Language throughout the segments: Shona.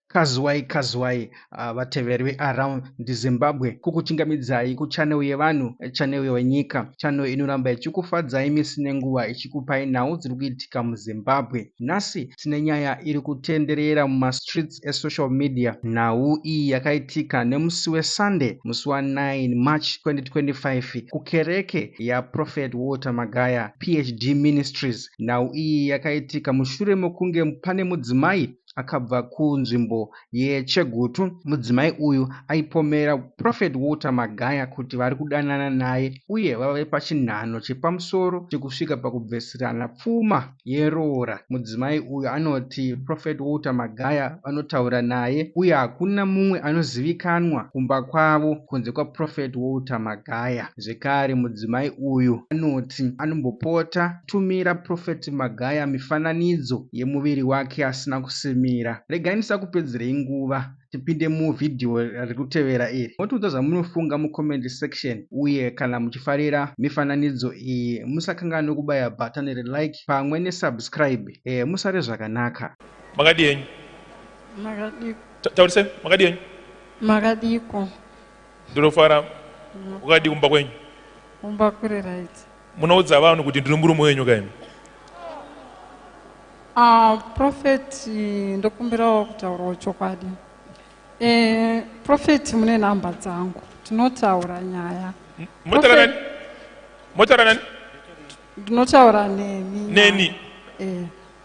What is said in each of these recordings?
Kazuwai Kazuwai uh, vateveri veAround the Zimbabwe kukuchingamidzai kuchanel yevanhu chanel yenyika chanel inoramba ichikufadzai misi nenguva ichikupai nhau dziri kuitika muzimbabwe nhasi tine nyaya iri kutenderera mumastreets esocial media nhau iyi yakaitika nemusi wesunday musi wa9 march 2025 kukereke yaprophet walter magaya phd ministries nhau iyi yakaitika mushure mekunge pane mudzimai akabva kunzvimbo yechegutu mudzimai uyu aipomera prophet walter magaya kuti vari kudanana naye uye vave pachinhano chepamusoro chekusvika pakubvesirana pfuma yeroora mudzimai uyu anoti prophet walter magaya vanotaura naye uye hakuna mumwe anozivikanwa kumba kwavo kunze kwaprophet walter magaya zvekare mudzimai uyu anoti anombopota Tumira Prophet Magaya mifananidzo yemuviri wake asina kusimira. Regai ndisakupedzerei nguva tipinde muvhidhiyo riri kutevera iri. Motiudza zvamunofunga mucomment section uye kana muchifarira mifananidzo iyi musakanganwe kubaya bhatani reLike pamwe neSubscribe. Eh, musare zvakanaka. Makadii henyu? Makadii? Ta- Taurisai, makadii henyu? Makadiiko? Ndinofara. Wakadii kumba kwenyu? Kumba kuri right. munoudza vanhu kuti ndiri murume wenyu kaimi uh, ah, profeti ndokumbirawo kutaurawo chokwadi e, eh, profeti mune nhamba dzangu tinotaura nyaya motaura nani ndinotaura neni neni e.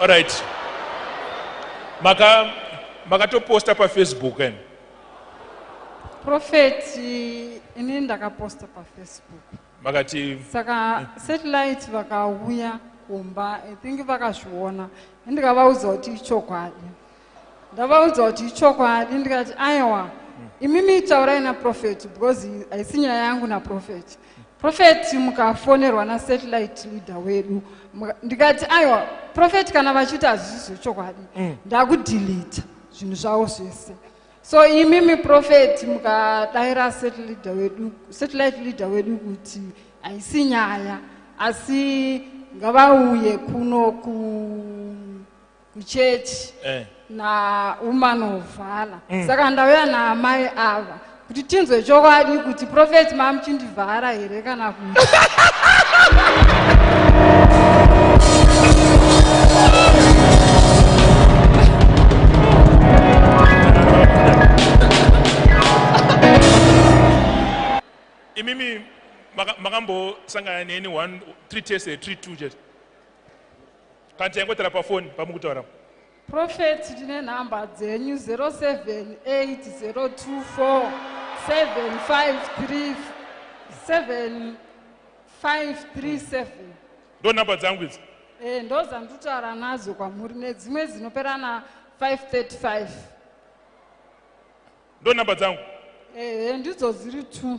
All right. Maka makatoposta pafacebook and Prophet, ini ndakaposta pafacebook. vakati saka satellite vakauya kumba i think vakazviona ndikavaudza kuti ichokwadi ndavaudza kuti ichokwadi ndikati aiwa imimi taurai naprofeti because haisi nyaya yangu naprofeti profeti mukafonerwa nasatellite leader wedu ndikati aiwa profeti kana vachiti hazvisi zvechokwadi mm. ndakudhilita zvinhu zvavo zvese so imi miprofeti mukadaira satellite wedu satellite leader wedu kuti haisi nyaya asi ngavauye kuno kuchechi eh. nawoman of vala mm. saka ndauya naamai ava kuti tinzwe chokwadi kuti profeti mamuchindi vhara here kana ku imimi makambosangana neni one three tese three two chete kana taingotara pafoni pamukutaura Prophet tine number dzenyu 0780247537 ndo number dzangu idzi eh, ndo dzanditaura nadzo kwamuri nedzimwe dzinoperana 535 ndo number dzangu ehe eh, ndidzo dziri two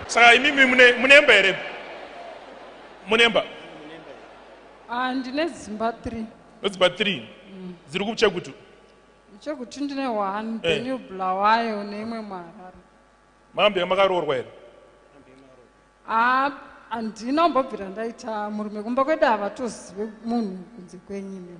Saka imimi mune munemba here? Munemba? Ah, ndine dzimba 3. Dzimba 3. Mm. Dziri kuchekutu. Chekutu ndine 1, eh. Benue Bulawayo neimwe Mharare. Mambe makaroorwa here? Ah, andina umbobvira ndaita murume kumba kwedu havatozive munhu kunze kwenyu nemi.